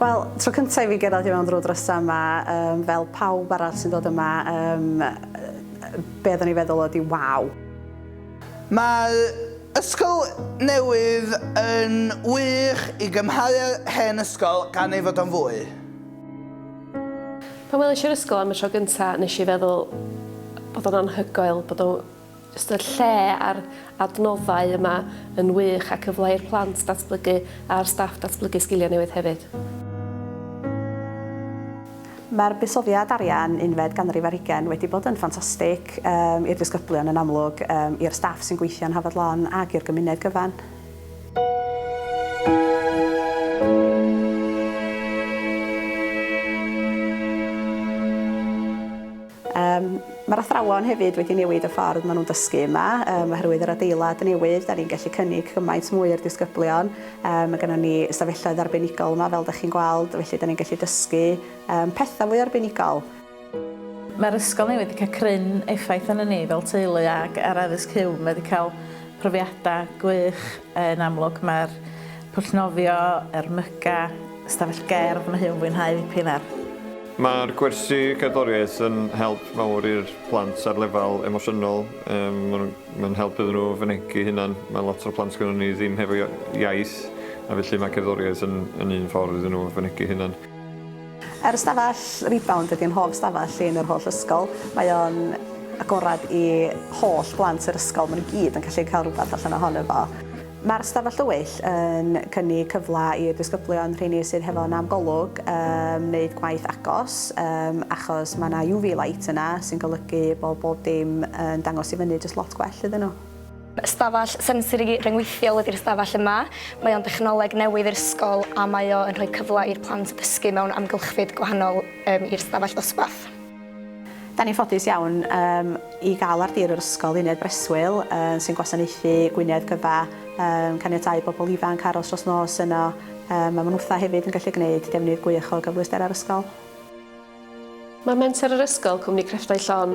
Wel, tro cyntaf i fi gyrraedd i mewn drwy drysa yma, um, fel pawb arall sy'n dod yma, um, be oeddwn i feddwl oedd i waw. Mae ysgol newydd yn wych i gymharu â'r hen ysgol gan ei fod o'n fwy. Pan welish i'r ysgol am y tro gynta nesh i feddwl bod o'n anhygoel bod o jyst y lle a'r adnoddau yma yn wych a cyfle i'r plant datblygu a'r staff datblygu sgilia newydd hefyd. Mae'r buddsoddiad arian unfed ganrif ar hugain wedi bod yn ffantastig, yym, i'r disgyblion yn amlwg, yym, i'r staff sy'n gweithio yn Hafod Lon ac i'r gymuned gyfan. Yym, mae'r athrawon hefyd wedi newid y ffordd maen nhw'n dysgu yma, yym, oherwydd yr adeilad newydd, da ni'n gallu cynnig cymaint mwy i'r disgyblion, yym, mae gennon ni ystafelloedd arbenigol yma, fel da chi'n gweld, felly da ni'n gallu dysgu, yym, pethau fwy arbenigol. Mae'r ysgol newydd wedi cael cryn effaith arnon ni fel teulu ac ar Addysg Huw, mae wedi cael profiadau gwych yn amlwg, mae'r pwll nofio, yr myga, ystafell gerdd, mae Huw yn fwynhau ddipyn ar. Mae'r gwersi cerddoriaeth yn help mawr i'r plant ar lefel emosiynol, mae'n help iddyn nhw fynegi hunan, mae lot o'r plant gynnon ni ddim hefo iaith a felly mae cerddoriaeth yn yn un ffordd iddyn nhw fynegi hunan. Yr ystafell Rebound ydy yn hoff stafell i yn yr holl ysgol, mae o'n agorad i holl blant yr ysgol, mae nhw gyd yn gallu cael rhywbeth allan ohono fo. Mae'r Stafell Dywyll yn cynnig cyfle i'r disgyblion, rheini sydd hefo nam Golwg, yym wneud gwaith agos, yym achos mae 'na UV light yna sy'n golygu bod bob dim yn dangos i fyny jyst lot gwell iddyn nhw. Stafell sensori ryngweithiol ydi'r stafell yma. Mae o'n dechnoleg newydd i'r ysgol a mae o yn rhoi cyfle i'r plant ddysgu mewn amgylchfyd gwahanol, yym i'r stafell ddosbarth. Da ni'n ffodus iawn yym i gael ar dir yr ysgol uned breswyl yy sy'n gwasanaethu Gwynedd gyfa yym caniatáu bobl ifanc aros dros nos yno yym a ma' nhw fatha hefyd yn gallu gneud defnydd gwych o gyfleusterau'r ysgol. Mae Menter yr Ysgol, Cwmni Crefftau Llon,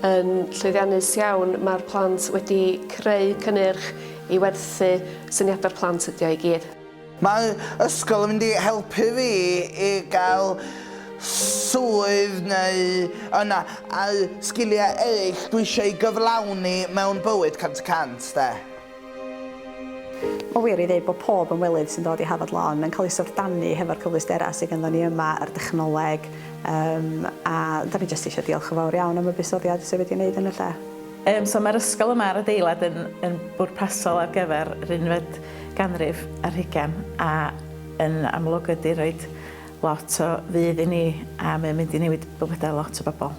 yn llwyddiannus iawn, mae'r plant wedi creu cynnyrch i werthu syniadau'r plant ydi o i gyd. Mae'r ysgol yn mynd i helpu fi i gael swydd neu yna a'r sgiliau eraill dwi eisiau eu gyflawni mewn bywyd cant y cant 'de. Mae'n wir ei ddeud bod pob ymwelydd sy'n dod i Hafod Lawn yn cael ei syfrdanu hefo'r cyfleusterau sydd ganddo ni yma, yr dechnoleg, yym a 'dan ni jyst eisiau diolch yn fawr iawn am y buddsoddiad sydd wedi ei wneud yn y lle. Yym so mae'r ysgol yma a'r adeilad yn yn bwrpasol ar gyfer yr unfed ganrif ar hugen a yn amlwg ydy roed lot o fudd i ni a mae'n mynd i newid bywydau lot o bobl.